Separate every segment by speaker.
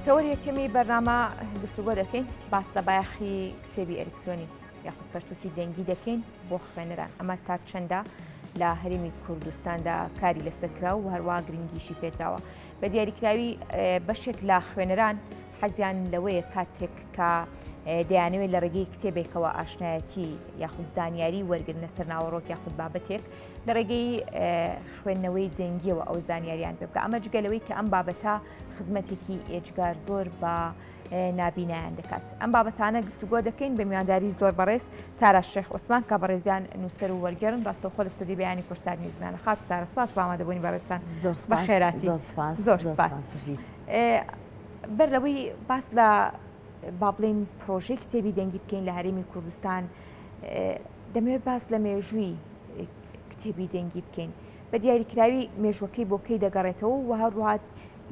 Speaker 1: تەوەر یەکەمی بەرنامە گفتوگۆ دەکەین باس لە بایەخی کتێبی ئەلکترۆنی یاخود پەرتوکی دەنگی دەکەین بۆ خوێنەران ئەمە تا چەندە لە هەرمی کوردستاندا کاری لەسەرکرا و هەروە گرنگیشی پێدراوە بە دیاریکراوی بەشێک لە خوێنەران حەزیان لەوەیە کاتێک کە دەیانەوێت لە ڕێگەی کتێبێکەوە ئاشنایەتی یاخود زانیاری وەرگن لەسەر ناوەڕۆک یاخود بابەتێک لە ڕێگەی خوێندنەوەی دەنگیەوە ئەو زانیاریان پێ بکە ئەمە جگەلەوەی کە ئەم بابەتە خزمەتێکی ئێجگار زۆر بە نابینایان دەکات ئەم بابەتانە گفتوگۆ دەکەین بە میوانداری زۆر بەڕێز تارا شێخ عوسمان کە بەڕێزیان نووسەر و وەرگێرن ڕاستەوخۆ لە سودی بیانی کورسار نیوزمان خات سارە سپاس بامادەبوونی بەڕێستان زۆر بە خێراتی زۆر سپاس زۆر سپاس بژیت. بەر لەوەی باس لە با بڵین پرۆژەی کتێبی دەنگی بکەین لە هەرێمی کوردستان دەمەوێت باس لە مێژووی کتێبی دەنگی بکەین بە دیاریکراوی مێژوەکەی بۆکەی دەگەڕێتەوە و هەروات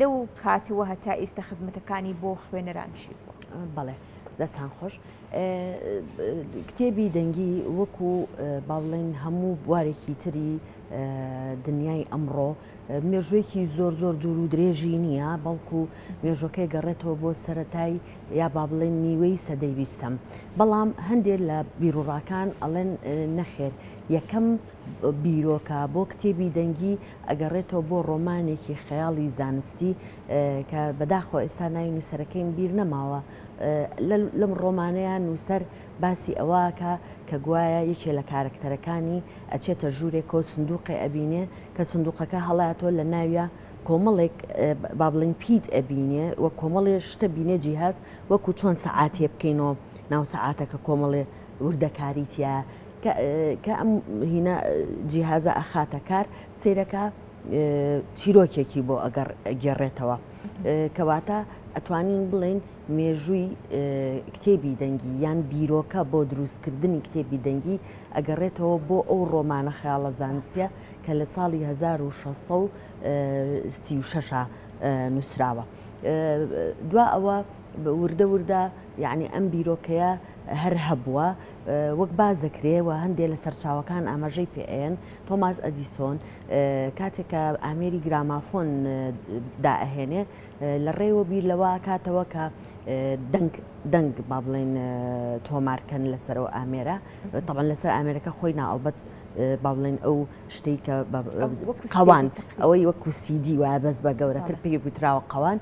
Speaker 1: لەو کاتەوە هەتا ئیستا خزمەتەکانی بۆ خوێنەران چی بووە بەڵێ
Speaker 2: دەستان خۆش کتێبی دەنگی وەکو باڵێن هەموو بوارێکی تری دنیای ئەمڕۆ مێژووێکی زۆر زۆر دوور و درێژی نییە بەڵکو مێژوەکەی گەڕێتەوە بۆ سەتای یا با بڵێن نیوەی سەدەی بیستەم بەڵام هەندێک لە بیرروڕاکان ئەڵێن نەخێر یەکەم بیرۆکە بۆ کتێبی دەنگی ئەگەڕێتەوە بۆ ڕۆمانێکی خەیاڵی زانستی کە بەداخۆ ئێستا ناوی نووسەرەکەیم بیر نەماوە لەم ڕۆمانەیە نووسەر باسی ئەوەکا کە گوایە یەکێ لە کارەکتەرەکانی ئەچێتە ژوورێکەوە سندوقێ ئەبینێ کە سندوقەکە هەڵاتۆ لە ناویە کۆمەڵێک بابلین پیت ئەبینێ و کۆمەڵێ شتە بینێ جیهاز وەکو چۆن سەعاتێ بکەینەوە ناو سەعاتەکە کۆمەڵێ وردەکاریتە کە ئەم هینە جیهازە ئەخاتە کار سیرەکە چیرۆکێکی بۆ ئەگەڕ گێڕێتەوە کەواتە ئەتوانین بڵین مێژووی کتێبی دەنگی یان بیرۆکە بۆ دروستکردنی کتێبی دەنگی ئەگەڕێتەوە بۆ ئەو ڕۆمانە خەیاڵە زانستە کە لە ساڵی 1636 نووسراوە دوا ئەوە وردە وردە یعنی ئەم بیرۆکەیە هەر هەبووە وەک بازەکرێەوە هەندێ لە سەرچاوەکان ئاماژەی پێیان تۆماس ئەدیسۆن کاتێکە ئامێری گرامافۆن دائهێنێ لە ڕێوە بیر لەوە کاتەوە کە دەنگ دەنگ با بڵێن تۆمارکەن لەسەرەوە ئامێرە تەبان لەسەر ئامێرەکە خۆی ناڵبەت با بڵێن ئەو شتێک کە قوان ئەوەی وەکو سیدی وایە بەس بە گەورەتر پێ بوتراوە قوان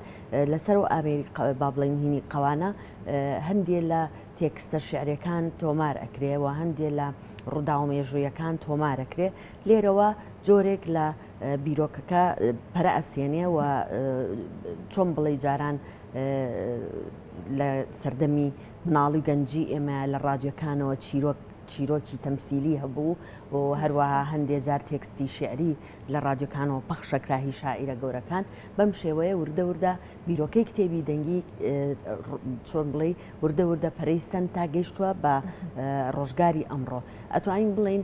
Speaker 2: لەسەر و ئامێری با بڵێن هینی قوانە هەندێ لە تێکستە شعرەکان تۆمار ئەکرێەوە هەندێ لە ڕووداوە مێژوویەکان تۆمارەکرێ لێرەوە جۆرێک لە بیرۆکەکە پەرە ئەسێنێ و چۆن بڵێ جاران لە سەردەمی مناڵی گەنجی ئێمە لە ڕادیۆکانەوە چیرۆک چیرۆکی تەمسیلی هەبوو و هەروەها هەندێ جار تێکستی شعری لە ڕادیۆکانەوە پەخشەکراهی شاعیرە گەورەکان بەم شێوەیە وردە وردە بیرۆکەی کتێبی دەنگی چۆن بڵێ وردە وردە پەرەی سند تا گەیشتووە بە ڕۆژگاری ئەمڕۆ ئەتوانین بڵین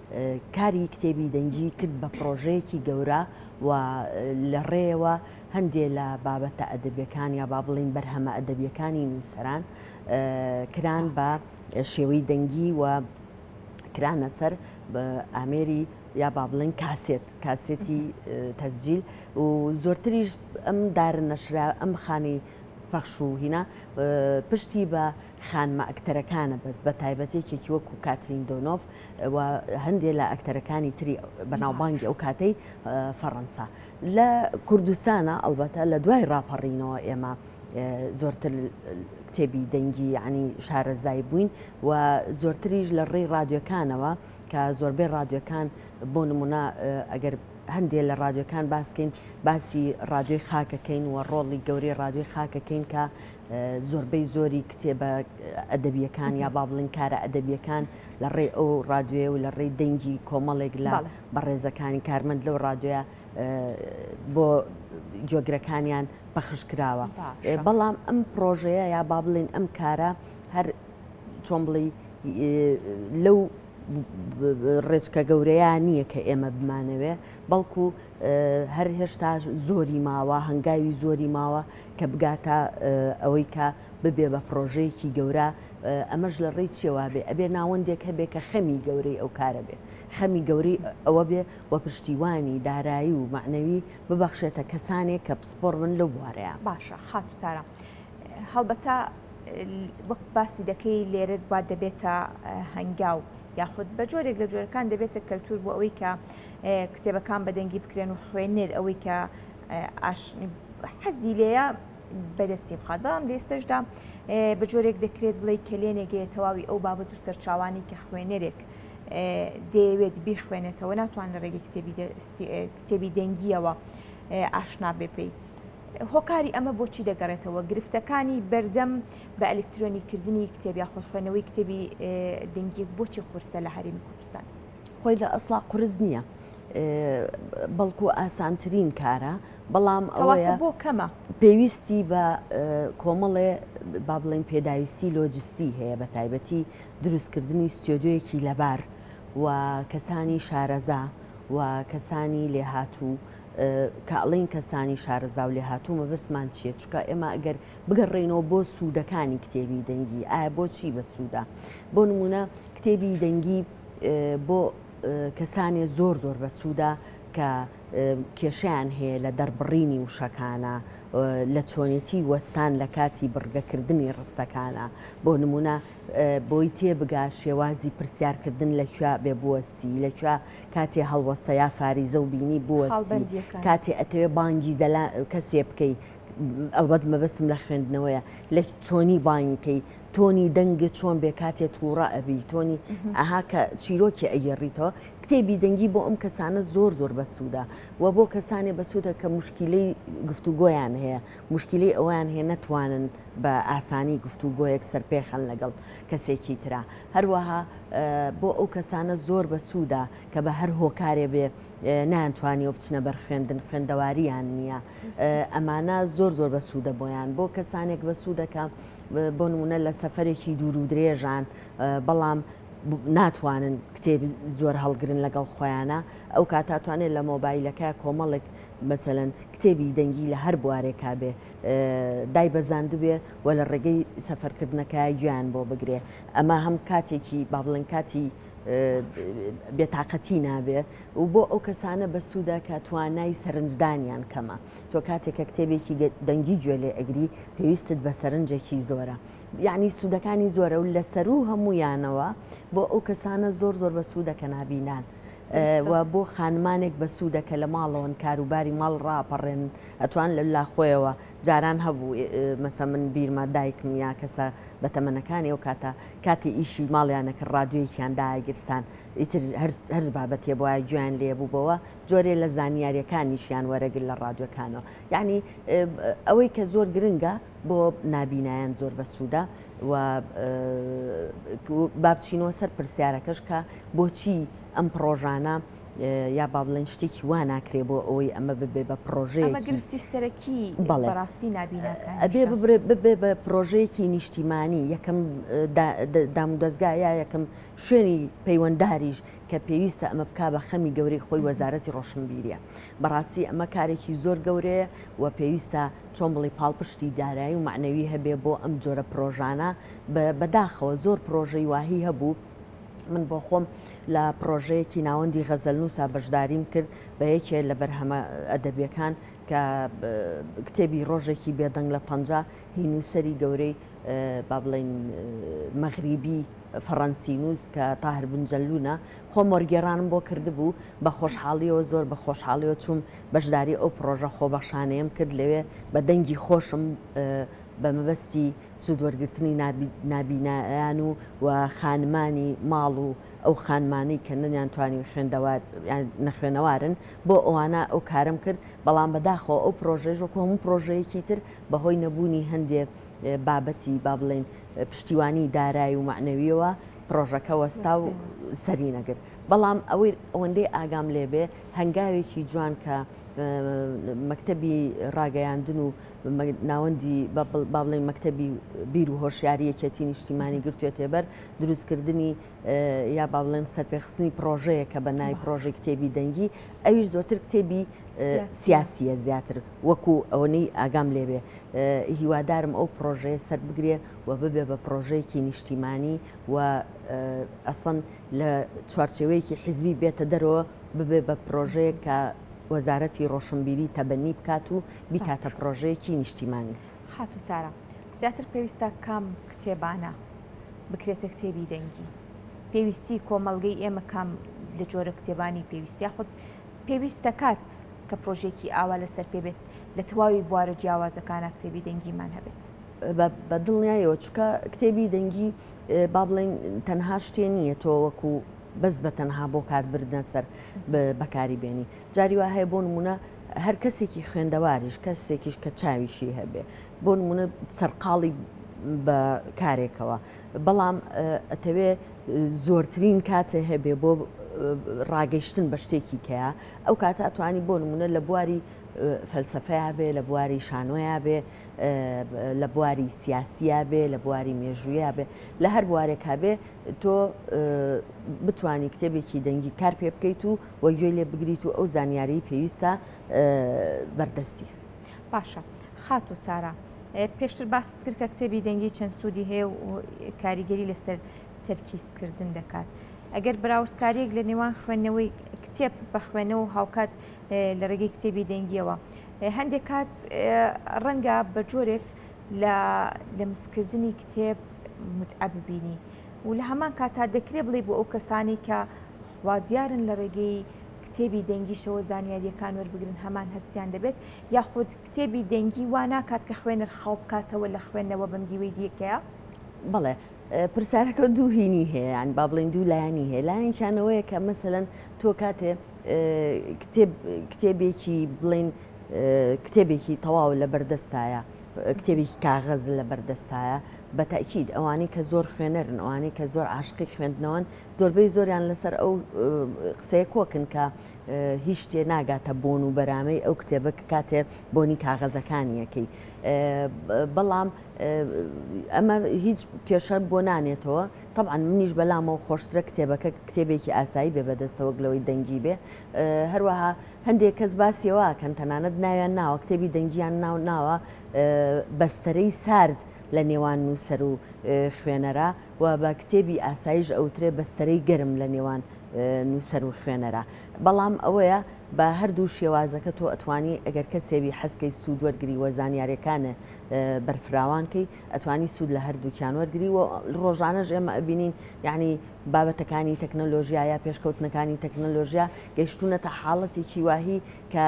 Speaker 2: کاری کتێبی دەنگی کرد بە پرۆژەیەکی گەورە و لە ڕێەوە هەندێک لە بابەتە ئەدەبیەکان یا با بڵین بەرهەمە ئەدەبیەکانی نووسەران کران بە شێوەی دەنگی و کرانە سەر ئامێری یا با بڵێن کاسێت کاسێتی تەزجیل و زۆرتریش ئەم دارە نەشرا ئەم خانی پەخش و هینا پشتی بە خانمە ئەکتەرەکانە بەس بە تایبەت یەکێکی وەکو کاترین دۆنۆف و هەندێ لە ئەکتەرەکانی تری بەناوبانگی ئەو کاتەی فەڕەنسا لە کوردستانە ئەڵبەتە لە دوای ڕاپەڕینەوە ئێمە زۆرتر کتێبی دەنگی ینی شارەزای بووین و زۆرتریش لە ڕێی رادیۆکانەوە کە زۆربەی رادیۆکان بۆ نمونە ئەگەر هەندێ لە رادیۆکان باسکەین باسی رادیۆی خاکەکەین و ڕۆڵی گەورەی رادیۆی خاکەکەین کە زۆربەی زۆری کتێبە ئەدەبیەکان یا با بڵین کارە ئەدەبیەکان لە ڕێ ئەو ڕادوێ و لە ڕێی دەنگی کۆمەڵێک لە بەڕێزەکانی کارمەند لەو ڕادوێە بۆ جۆگرەکانیان پەخش کراوە بەڵام ئەم پرۆژەیە یا با بڵین ئەم کارە هەر چۆن بڵی لەو ڕێچکە گەورەیە نییە کە ئێمە بمانەوێ بەڵکو هەر هێشتا زۆری ماوە هەنگاوی زۆری ماوە کە بگاتە ئەوەی کە ببێ بە پرۆژەیەکی گەورە ئەمەش لە ڕێی چێوا بێ ئەبێ ناوەندێک هەبێ کە خەمی گەورەی ئەو کارە بێ خەمی گەوری ئەوە بێ و پشتیوانی دارایی و معنەوی ببەخشێتە کەسانێک کە پسپۆر من لەو بوارەیە باشە خاتوتارە
Speaker 1: هەڵبەتە وەک باسی دەکەی لێرت وا دەبێتە هەنگاو یاخود بە جۆرێک لە جۆرەکان دەبێتە کەلتور بۆ ئەوەی کە کتێبەکان بە دەنگی بکرێن و خوێنەر ئەوەی کە حەزی لێە بەدەستی بخات بەڵام لێستشدا بە جۆرێک دەکرێت بڵێ کەلێنێگەیە تەواوی ئەو بابەت و سەرچاوانی کە خوێنەرێک دەیەوێت بیخوێنێتەوە ناتوان لە ڕێگەی کتێبی کتێبی دەنگیەوە ئاشنا بێ پێی. هۆکاری ئەمە بۆچی دەگەڕێتەوە گرفتەکانی بەردەم بە ئەلکترۆنیکردنی کتێبیا خۆخوێنەوەی کتێبی دەنگی بۆچی قورسە لە هەرمی کوردستان. خۆی لە ئەسڵا
Speaker 2: قرس نییە بەڵکو ئاسانترین کارە بەڵام ئەوەیە بۆ کەمە
Speaker 1: پێویستی بە
Speaker 2: کۆمەڵێ با بڵێن پێداویستی لۆجستی هەیە بە تایبەتی دروستکردنی ستۆدیۆیەکی لەبار و کەسانی شارەزا و کەسانی لێهاتوو کاڵین کەسانی شارەزا و لێهاتوو مەبەستمان چیە چکە ئێمە ئەگەر بگەڕێینەوە بۆ سوودەکانی کتێبی دەنگی ئایا بۆچی بە سوودا بۆ نمونە کتێبی دەنگی بۆ کەسانێ زۆر زۆر بەسوودە کە کێشیان هەیە لە دەربڕینی وشەکانە لە چۆنێتی وەستان لە کاتی بڕگەکردنی ڕستەکانە بۆ نمونە بۆی تێبگا شێوازی پرسیارکردن لە کوێ بێ بوەستی لە کوێ کاتێ هەڵوەستە یا فاریزە و بینی بوەستی کاتێ ئەتەوێ بانگی زەلا کەسێ بکەیت ئەڵبەت مەبەستم لە خوێندنەوەیە لە چۆنی بانیکەی تۆنی دەنگت چۆن بێ کاتێ تووڕە ئەبی تۆنی ئەها کە چیرۆکی ئەگەڕیتەوە کتێبی دەنگی بۆ ئەم کەسانە زۆر زۆر بەسوودا و بۆ کەسانێ بەسوودە کە مشکلەی گفتوگۆیان هەیە مشکلی ئەویان هەیە نەتوانن بە ئاسانی گفتوگۆیەک سەرپێخەن لەگەڵ کەسێکی تررا هەروەها بۆ ئەو کەسانە زۆر بەسوودا کە بە هەر هۆکارێ بێ نانتوانی و بچنە بەر خوێندن خوێندەواریان نییە ئەمانە زۆر زۆر بەسوودە بۆیان بۆ کەسانێک بەسوودەکە بۆ نمونە لە سەفرێکی دوور و درێژان بەڵام ناتوانن کتێبی زۆر هەڵگرن لەگەڵ خۆیانە ئەو کاتاتوانێت لە مۆبایلەکە کۆمەڵێک مەسەن کتێبی دەنگی لە هەر بوارێکا بێ دای بەزاندبێ و لە ڕێگەی سەفەرکردنەکە گویان بۆ بگرێ ئەمە هەم کاتێکی با بڵێن کاتی بێتاقەتی نابێ و بۆ ئەو کەسانە بەسوودە کە توانای سەرنجدانیان کەمە. تۆ کاتێک کە کتێبێکی دەنگی گوێ لێ ئەگری پێویستت بە سەرنجێکی زۆرە یعنی سوودەکانی زۆرە و لە سەر و هەمویانەوە بۆ ئەو کەسانە زۆر زۆر بە سوودە کە نابینان. و بۆ خانمانێک بە سوودە کە لە ماڵەوەن کاروباری ماڵ ڕاپەڕێن ئەتوان لە لاخۆیەوە جاران هەبوو مەسە من بیرمە دایکم یا کەسە بە تەمەنەکانی ئەو کاتە کاتی ئیشی ماڵیانەکە ڕادوێکیان داگیرسان ئیتر هەرز بابەتێ بۆە گویان لێبوو بەوە جۆرێ لە زانیاریەکانیشیان وەرەگر لە ڕادوەکانەوە یعنی ئەوەی کە زۆر گرنگە بۆ نابینایەن زۆر بەسوودە و بابچینەوە سەر پرسیارەکەش کە بۆچی ئەم پرۆژانە یا با بڵێن شتێکی وا ناکرێ بۆ ئەوەی ئەمە ببێ بە پرۆژەیە گرفتی سەرەکی
Speaker 1: بەڕاستی نبینەکە ببێ
Speaker 2: بە پرۆژەیەکی نیشتیمانی یەکەم دامودەستگایە یەکەم شوێنی پەیوەندداریش کە پێویستە ئەمە بکا بە خەمی گەورەی خۆی وەزارەتی ڕۆشنبیریە بەڕاستی ئەمە کارێکی زۆر گەورەیە و پێویستە چۆن بڵی پاڵپشتی دارایی و معنەوی هەبێ بۆ ئەم جۆرە پرۆژانە بەداخەوە زۆر پرۆژەی واهی هەبوو من بۆ خۆم لە پرۆژەیەکی ناوەندی غەزەلنووسا بەشداریم کرد بە یەکێ لە بەرهەمە ئەدەبیەکان کە کتێبی ڕۆژێکی بێدەنگ لە پەنجا هینوسری گەورەی با بڵین مەغریبی فەڕەنسی نووس کە تاهر بن جەلوونە خۆم وەرگێڕانم بۆ کردبوو بە خۆشحاڵیەوە زۆر بە خۆشحاڵیەوە چووم بەشداری ئەو پرۆژە خۆبەخشانەیەم کرد لەوێ بە دەنگی خۆشم بە مەبەستی سوودوەرگرتنی نابینایان و و خانمانی ماڵ و ئەو خانمانەی کە نەنیان توانی خوێندەوار نەخوێنەوارن بۆ ئەوانە ئەو کارم کرد بەڵام بەداخەوە ئەو پرۆژێژ وەکو هەموو پرۆژەیەکی تر بەهۆی نەبوونی هەندێک بابەتی با بڵێین پشتیوانی دارایی و معنەویەوە پرۆژەکە وەستا و سەری نەگرت بەڵام ئەوەی ئەوەندەی ئاگام لێبێ هەنگاوێکی جوان کە مەکتتەبی ڕاگەیاندن و ناوەندی با بڵێن مەکتتەبی بیر و هۆشیاری یەکێتی نیشتیمانی گرتوێتێ بەر دروستکردنی یا با بڵێن سەرپێخستنی پرۆژەیە کە بە نای پرۆژێک کتێبی دەنگی ئەویش زۆتر کتێبی سیاسیە زیاتر وەکو ئەوەی ئاگام لێبێ هیوادارم ئەو پڕۆژەیە سەر بگرێ و ببێ بە پڕۆژەیەکی نیشتیمانی و ئەسڵەن لە چوارچێوەیەکی حیزبی بێتە دەرەوە ببێ بە پرۆژەیە کە وەزارەتی ڕۆشنبیری تەبەنی بکات و بیکاتە پرۆژەیەکی نیشتیمانی خاتو تارا
Speaker 1: زیاتر پێویستە کام کتێبانە بکرێتە کتێبی دەنگی پێویستی کۆمەلگەی ئێمە کام لە جۆرە کتێبانی پێویستیا خودت پێویست دەکات کە پرۆژێکی ئاوا لەسەر پێ بێت لە تەواوی بوارە جیاوازەکانە کتێبی دەنگیمان هەبێت. بە
Speaker 2: دڵنیایەوە چکە کتێبی دەنگی با بڵێن تەنها شتێ نییە تۆ وەکو بەس بە تەنها بۆ کاربردنە سەر بەکاری بێنی جاری وا هەیە بۆ نمونە هەر کەسێکی خوێندەواریش کەسێکیش کە چاویشی هەبێ بۆ نمونە سەرقاڵی بە کارێکەوە بەڵام ئەتەوێ زۆرترین کاتێ هەبێ بۆ ڕاگەیشتن بە شتێکی کەیە ئەو کاتە ئەتوانی بۆ نمونە لە بواری فەلسفەیە بێ لە بواری شانۆیە بێ لە بواری سیاسیە بێ لە بواری مێژوویە بێ لە هەر بوارێکا بێ تۆ بتانی کتێبێکی دەنگی کار پێ بکەیت و وەگوێ لێ بگریت و ئەو زانیاری پێویستە بەردەستی باشە
Speaker 1: خاتو تارا پێشتر باست کرد کە کتێبی دەنگی چەند سوودی هەیە و کاریگەری لەسەر تەرکیزکردن دەکات. ئەگەر بەراوردکاریەک لە نێوان خوێندنەوەی کتێب بە خوێنەوە هاوکات لە ڕێگەی کتێبی دەنگیەوە هەندێک کات ڕەنگە بە جۆرێک لە لەمسکردنی کتێب متعە ببینی و لە هەمان کاتا دەکرێت بڵێ بۆ ئەو کەسانی کە خوازیارن لە ڕێگەی کتێبی دەنگیشەوە زانیارییەکان وەربگرن هەمان هەستیان دەبێت یاخود کتێبی دەنگی وا ناکات کە خوێنەر خاو بکاتەوە لە خوێندنەوە بەم دیوەی دیکەیە بڵێ
Speaker 2: پرسیارەکە دوو هینی هەیەیان با بڵین دوو لایەنی هەیە لایەنچانەوەیە کە مەسەەن تۆ کاتێ کتێبێکی بڵین کتێبێکی تەواو لە بەردەستایە کتێبێکی کاغەز لە بەردەستایە بە تاکیید ئەوانەی کە زۆر خوێنەرن ئەوانەی کە زۆر عاشقی خوێندنەوەن زۆربەی زۆریان لەسەر ئەو قسەیە کۆکن کە هیچ شتێ ناگاتە بۆن و بەرامەی ئەو کتێبە کە کاتێ بۆنی کاغەزەکانیەکەی بەڵام ئەمە هیچ کێشە بۆ نانێتەوە طبعاان منیش بەلامەوە خۆشترە کتێبەکە کتێبێکی ئاسایی بێ بەدەستەوەک لەوەی دەنگی بێ هەروەها هەندێک کەس باسیەوە کەن تەنانەت ناویان ناوە کتێبی دەنگیان ناو ناوە بەستەرەی سارد لە نێوان نووسەر و خوێنەرە و بە کتێبی ئاسایش ئەوترێ بەستەرەی گەرم لە نێوان نووسەر و خوێنەرە بەڵام ئەوەیە بە هەردوو شێوازەکە تۆ ئەتوانی ئەگەر کەسێوی حەزکەی سوود وەرگری وە زانیارەکانە بەرفراوانکەی ئەتوانی سوود لە هەردووکیان وەرگری و ڕۆژانەش ئێمە ئەبینین یعنی بابەتەکانی تەکنەلۆژیا یا پێشکەوتنەکانی تەکنەلۆژیا گەیشتونە تا حاڵەتێکی واهی کە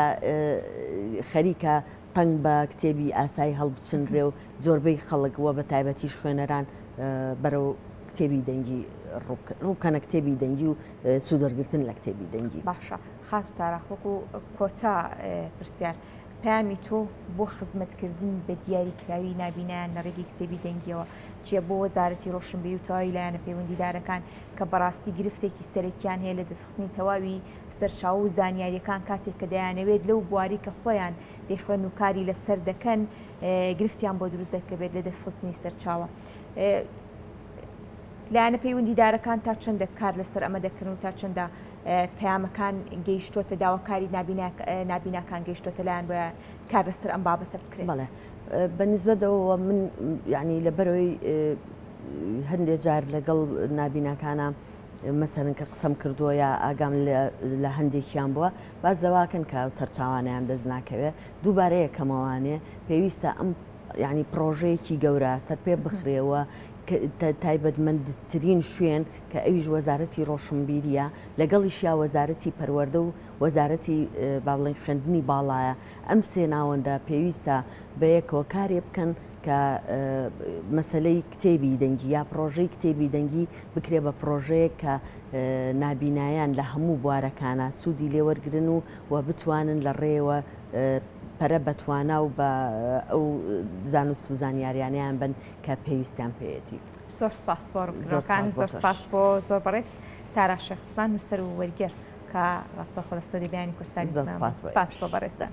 Speaker 2: خەریکە تەنگ بە کتێبی ئاسایی هەڵبچنرێ و زۆربەی خەڵک وە بە تایبەتیش خوێنەران بەرەو کتێبی دەنگی ڕووکەنە کتێبی دەنگی و سوودەرگرتن لە کتێبی دەنگی باشە خاس و
Speaker 1: تاراخۆکو کۆتا پرسیار. پامی تۆ بۆ خزمەتکردن بە دیاری کراوی نابینیان لە ڕێگەی کتێبی دەنگیەوە چیە بۆ وەزارەتی ڕۆشنبی و تەواوی لایەنە پەیوەندیدارەکان کە بەڕاستی گرفتێکی سەرەکیان هەیە لە دەستخستنی تەواوی سەرچاو و زانیاریەکان کاتێک کە دەیانەوێت لەو بواری کە خۆیان دەیخوێن و کاری لەسەر دەکەن گرفتیان بۆ دروست دەکەبێت لە دەستخستنی سەرچاوە. لایەنە پەیوەندیدارەکان تا چەندە کار لەسەر ئەمە دەکەن و تا چەندە پەیامەکان گەیشتوتە داواکاری نابیناکان گەشتوتە لایەن بە کار لەسەر ئەم بابەتە بکرێت بە
Speaker 2: نزبەتەوە من ینی لە بەرەوەی هەندێک جار لەگەڵ نابیناکانە مەسەن کە قسەم کردووە یا ئاگام لە هەندێکیان بووە باز دەواکەن کە سەرچاوانیان دەست ناکەوێت دووبارەیە کەمەوانێ پێویستە ئەم یعنی پرۆژەیەکی گەورە سەرپێ بخرێەوە تایبەتمەندترین شوێن کە ئەویش وەزارەتی ڕۆشنبیریە لەگەڵیشیا وەزارەتی پەروەەردە و وەزارەتی باڵنگ خوێندنی باڵایە ئەم سێ ناوەندە پێویستە بە یەکەوە کارێ بکەن کە مەسلەی کتێبی دەنگی یا پرۆژەی کتێبی دەنگی بکرێ بە پرۆژەیە کە نابینایان لە هەموو بوارەکانە سوودی لێوەرگن و و بتوانن لە ڕێیەوە پەرە بە توانا و بە ئەو زانست و زانیاریانیان بن کە پێویستیان
Speaker 1: پێێتی زۆر سپاس زۆرکان زۆر
Speaker 2: سپاس
Speaker 1: بۆ زۆر
Speaker 2: بەڕێز
Speaker 1: تارا شخصمان نووسەر و وەرگێر کە ڕاستە خۆستۆری بیانی کوردستانی زۆر سپاس بۆ بەڕێزدا